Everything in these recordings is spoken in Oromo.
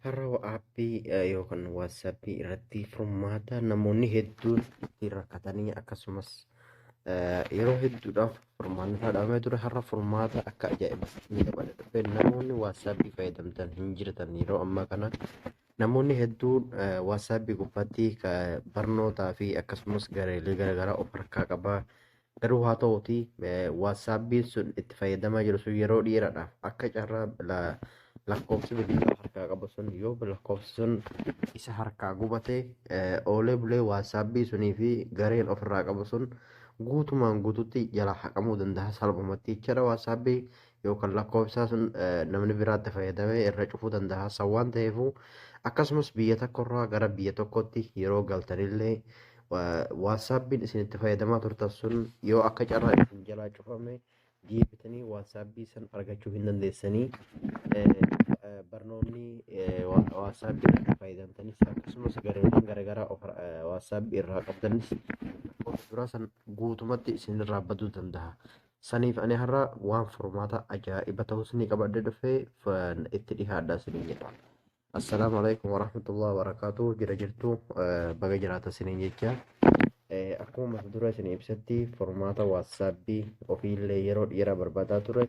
Har'a aappii yookaan waatsaappii irratti furmaata namoonni hedduun itti rakkatanii akkasumas yeroo hedduudhaaf furmaanni dhaabamee ture har'a furmaata akka ajaa'ibaatti ni dabale dhufe namoonni waatsaappii fayyadamtan hin jirtan yeroo ammaa kana Namoonni hedduun WhatsApp gubbaatti barnootaa fi akkasumas gareelee garaagaraa of harkaa qaba. Garuu haa ta'uuti WhatsAppiin sun itti fayyadamaa jiru sun yeroo dheeraadhaaf akka carraa lakkoofsi bilbilaa harkaa qabu sun yoo lakkoofsi sun isa harkaa gubate oolee bulee WhatsAppii sunii fi gareen ofirraa qabu sun guutumaan guututti jalaa haqamuu danda'a salphumatti jechaadha. WhatsAppii yookaan lakkoofsaa sun namni biraatti fayyadamee irra cufuu danda'a. San waan ta'eefuu akkasumas biyya tokkorraa gara biyya tokkotti yeroo galtanillee waatsaappiin isin itti fayyadamaa turtan sun yoo akka carraa isin jalaa cufame deebitanii waatsaappii san argachuu hin dandeessanii barnoonni waatsaappii irratti fayyadamtanis akkasumas gareewwan garaagaraa waatsaappii irraa qabdanis duraa san guutumatti isin irraa baduu danda'a. Saniif ani har'a waan furmaata ajaa'iba ta'u isinii qabadhe dhufe itti dhihaadha isiniin jedha. Assalaamu alaikum warahmatullahi wabarakaatu jira jirtu baga jiraata isiniin jecha. Akkuma mata dura isin ibsatti furmaata waatsaappi ofiillee yeroo dheeraa barbaadaa ture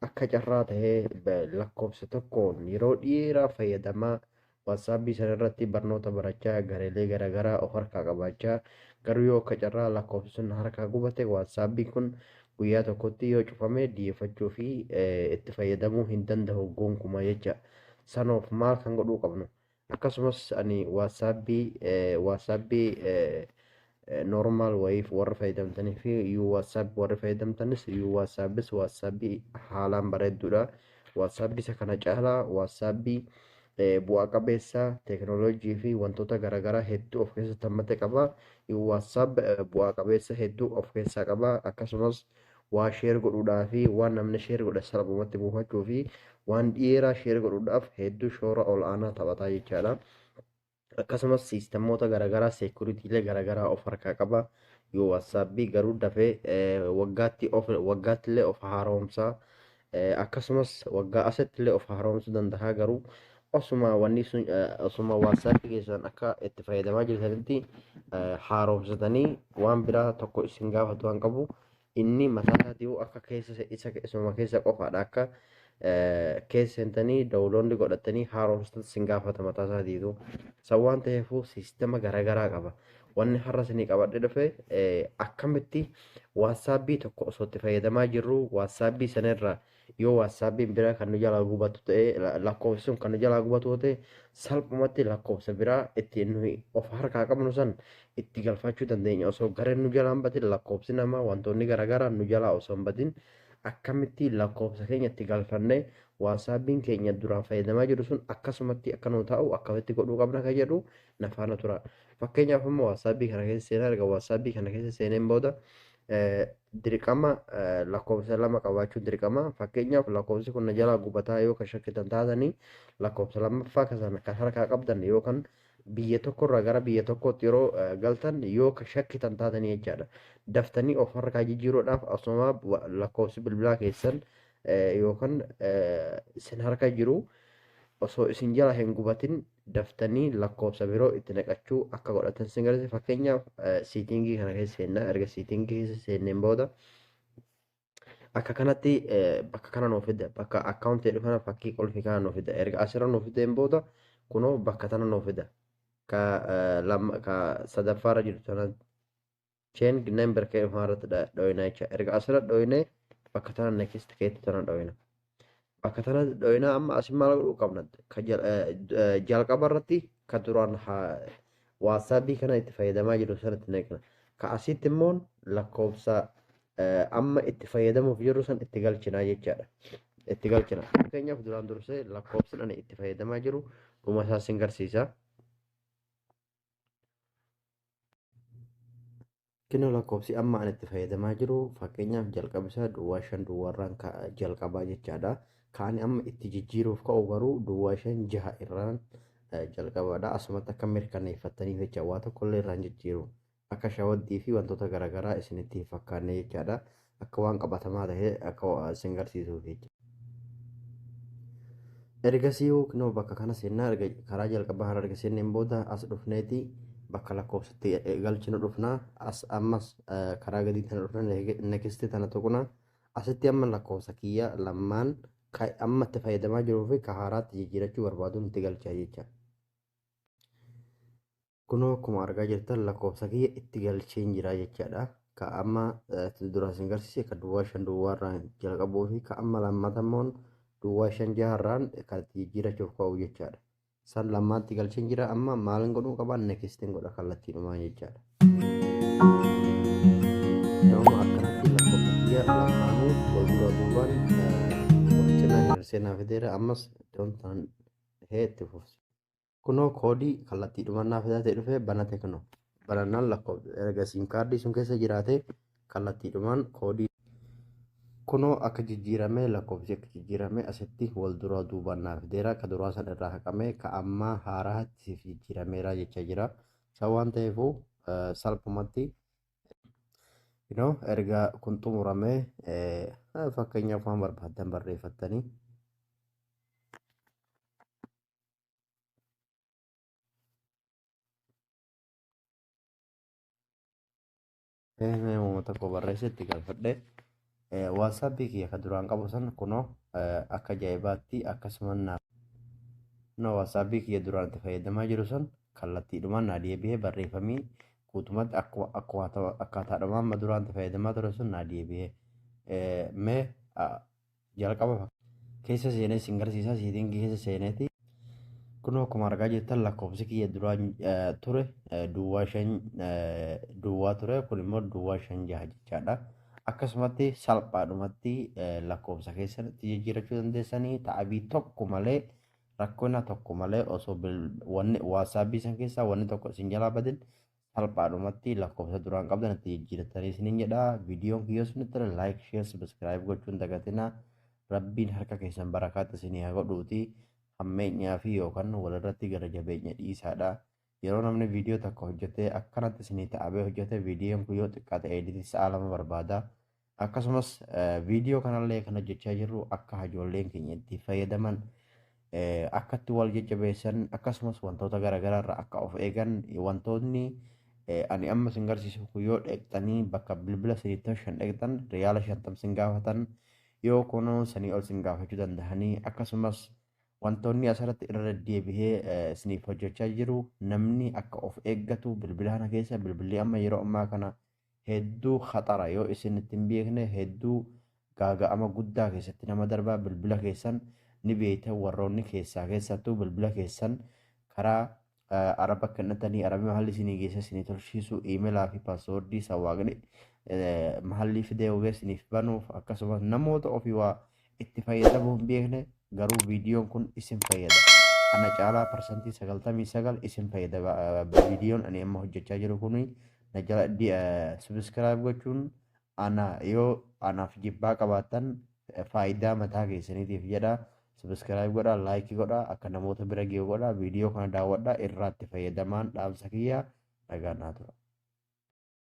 akka carraa ta'ee lakkoofsa tokkoon yeroo dheeraa fayyadamaa Whatsapp sana irratti barnoota barachaa gareelee garaagaraa of harkaa qabaachaa garuu yoo akka carraa lakkoofsi sun na harkaa gubate whatsapp kun guyyaa tokkotti yoo cufame dhiyeeffachuu fi itti fayyadamuu hin danda'u gonkumaa jecha sanoof maal kan godhuu qabnu akkasumas ani whatsapp whatsapp normal wayiif warri fayyadamtanii fi you whatsapp warri fayyadamtanis you whatsappis whatsapp haalaan bareedduudha whatsapp isa kana caalaa whatsapp bu'aa qabeessa teeknooloojii fi wantoota garaagaraa hedduu of keessatti hammate qaba you whatsapp bu'aa qabeessa hedduu of keessaa qaba akkasumas waa sheer godhuudhaa fi waan namni sheer godhe salphumatti buufachuu fi waan dhiyeeraa sheer godhuudhaaf hedduu shoora ol aanaa taphataa jechaadha. akkasumas siistemoota garaagaraa seekuritiilee garaagaraa of harkaa qaba yoo waatsaappi garuu dafee waggaatti of waggaattillee of haaromsaa akkasumas waggaa asattillee of haaromsuu danda'a garuu osuma wanni sun osuma waatsaappi keessan akka itti fayyadamaa jirtanitti haaromsatanii waan biraa tokko isin gaafatu waan qabu Inni mataa isaatii akka keessa isa isuma keessa qofaadha akka keessa seentanii dawuloonni godhattanii haaromsitan sin gaafata mataa isaatiitu. San waan ta'eefuu siistema garaagaraa qaba. Wanni har'a isinii qabadhe dhufe akkamitti waatsaapbii tokko osoo itti fayyadamaa jirru waatsaapbii sanarra Yoo WhatsApp'n biraa kan nu jalaa gubatu ta'e, lakkoofsi sun kan nu jalaa gubatu yoo ta'e, salphumatti lakkoofsa biraa itti nuyi of harkaa qabnu san itti galfachuu dandeenya. Osoo gareen nu jalaa hin badin lakkoofsi namaa wantoonni garaagaraa nu jalaa osoo hin badin akkamitti lakkoofsa keenya itti galfannee WhatsApp'n keenya duraan fayyadamaa jiru sun akkasumatti akka nu taa'u akkamitti godhuu qabna kan jedhu na faana tura. Fakkeenyaaf amma WhatsApp kana keessa seenaa erga WhatsApp kana keessa seeneen booda dirqama lakkoofsa lama qabaachuun dirqama fakkeenyaaf lakkoofsi kun na jalaa gubataa yoo kan shakkitan taatanii lakkoofsa lammaffaa kan kan harkaa qabdan yoo kan biyya tokkorraa gara biyya tokkootti yeroo galtan yoo kan shakkitan taatanii jechaadha daftanii of harkaa jijjiiruudhaaf asuma lakkoofsi bilbilaa keessan yookaan isin harka jiru osoo isin jala hin gubatin daftanii lakkoofsa biroo itti naqachuu akka godhatan sin gargaarsa fakkeenyaaf siitingii kana keessa seennaa erga siitingii keessa seenneen booda akka kanatti bakka kana nuuf fida bakka akkaawuntii jedhu kana fakkii qulfii kana nuuf fida erga asirra nuuf fideen booda kunoo bakka tana nuuf fida ka lama ka sadaffaarra jirtu tana chain number kee dhufaa irratti dhooyinaa jecha erga asirra dhooyinee bakka tana next keetti tana dhooyina bakka tana dhooyinaa amma asin maal godhuu qabna jalqaba irratti ka duraan waatsaapii kana itti fayyadamaa jiru sanatti neeqna ka asitti immoo lakkoofsa amma itti fayyadamuuf jirru san itti galchinaa jechaadha. itti galchina. Fakkeenyaaf duraan dursee lakkoofsi ani itti fayyadamaa jiru dhuma isaa sin garsiisa. Kino lakkoofsi amma an itti fayyadamaa jiru fakkeenyaaf jalqaba isaa duwwaa shan duwwaarraan jalqabaa jechaadha. Kaan amma itti jijjiiruuf ka'u garuu duwwaa shan jaha irraan jalqabaadha. Asumatti akka mirkaneeffattaniif jecha waa tokkollee irraan jijjiiru. Akka shawaddii fi wantoota garaagaraa isinitti hin fakkaanne jechaadha. akka waan qabatamaa ta'ee akka isin garsiisuuf jechuudha. Ergasii hookinoo bakka kana seennaa erga karaa jalqabaa kana erga seenneen booda as dhufneeti bakka lakkoofsatti galchinu dhufna. As ammas karaa gadii tana dhufna nekisti tana tuqna. Asitti amma lakkoofsa kiyya lammaan kan amma itti fayyadamaa jiruu fi ka haaraatti jijjiirachuu barbaaduun itti galcha jecha. Kunoo akkuma argaa jirtan lakkoofsa kiyya itti galcheen jira jechaadha. Ka amma duraan isin garsiise ka duwwaa shan duwwaa irraan jalqabuu fi ka amma lammata immoo duwwaa shan jaha irraan kan itti jijjiirachuuf ka'u jechaadha. San lammaatti galcheen jira amma maalin godhuu qaba nekistiin godha kallattiidhumaan jechaadha. Nama akkanatti lakkoofsa kiyya lamaanuu wal dura duubaan wal cinaa hirirsee naa fideera ammas iddoon tan dhahee itti fufsiisa. Kunoo koodii kallattii dhumannaa fidatee dhufee banate kunoo. Banannaan lakkoofsa erga siim kaardii sun keessa jiraatee kallattii dhumaan koodii kunoo akka jijjiiramee lakkoofsi akka jijjiiramee asitti wal duraa duubaan naa fideera ka duraa san irraa haqamee ka ammaa haaraatti siif jijjiirameera jecha jira. Isa waan ta'eefuu salphumatti you know, erga kun xumuramee fakkeenyaaf waan barbaaddan barreeffattanii Mee uummata koo barreessetti gaafadhe. Waatsaappii kiyya kan duraan qabu san kunoo akka ajaa'ibaatti akkasuma naaf. Kunoo waatsaappii kiyya duraan itti fayyadamaa jiru san kallattiidhumaan naa deebi'ee barreeffamii guutumatti akkaataadhumaan duraan itti fayyadamaa ture sun naa deebi'ee. Mee jalqaba fak- keessa seenee isin garsiisa siitingi keessa seeneeti kunoo akkuma argaa jirtan lakkoofsi kiyya duraa eh, ture eh, duwwaa shan eh, duwwaa ture kun immoo duwwaa shan jaha jechaadha akkasumatti salphaadhumatti eh, lakkoofsa keessanitti jijjiirachuu dandeessanii ta'abii tokko malee rakkina tokko malee osoo bil- wanni waasaabii san keessaa wanni tokko isin jalaa badin salphaadhumatti lakkoofsa duraan qabdan itti jijjiirrattanii isinin jedha viidiyoon kiyyoo isinitti tole laayik sheer sabiskiraayib gochuun dagatina rabbiin harka keessan barakaatti isinii haa godhuuti hammeenyaa fi yookaan walirratti gara jabeenya dhiisaadha yeroo namni viidiyoo takka hojjetee akkanatti isinii ta'abee hojjete viidiyoon kiyyoo xiqqaa ta'ee sa'a lama barbaada Akkasumas viidiyoo kanallee kan hojjechaa jirru akka ijoolleen keenya itti fayyadaman akka itti wal jajjabeessan akkasumas wantoota garaagaraa irraa akka of eegan wantoonni ani amma sin garsiisu kun yoo dheektanii bakka bilbila saniitti shan dheektan riyaala shantam sin gaafatan yoo kunoo sanii ol sin gaafachuu danda'anii akkasumas wantoonni asirratti irra deddeebihee isiniif hojjechaa jiru namni akka of eeggatu bilbila kana keessa bilbilli amma yeroo ammaa kana hedduu khaxara yoo isin itti hin beekne hedduu gaaga'ama guddaa keessatti nama darba bilbila keessan ni beektan warroonni keessaa keessattuu bilbila keessan karaa eh, araba kennatanii arabi mahalli isinii geessa isinii tolchiisu iimelaa fi paaswoordii sawaaqni eh, mahallii fidee hogee isiniif banuuf akkasumas namoota ofii waa itti fayyadamuu hin beekne garuu viidiyoon kun isin fayyada. Ana caalaa parsantii sagaltamii sagal isin fayyada viidiyoon ani amma hojjechaa jiru kun na jala subscribe gochuun ana yoo anaaf jibbaa qabaattan faayidaa mataa keessaniitiif jedha subscribe godha like godha akka namoota bira ga'u godha viidiyoo kana daawwadha irraatti fayyadamaan dhaamsa kiyya nagaa naa tura.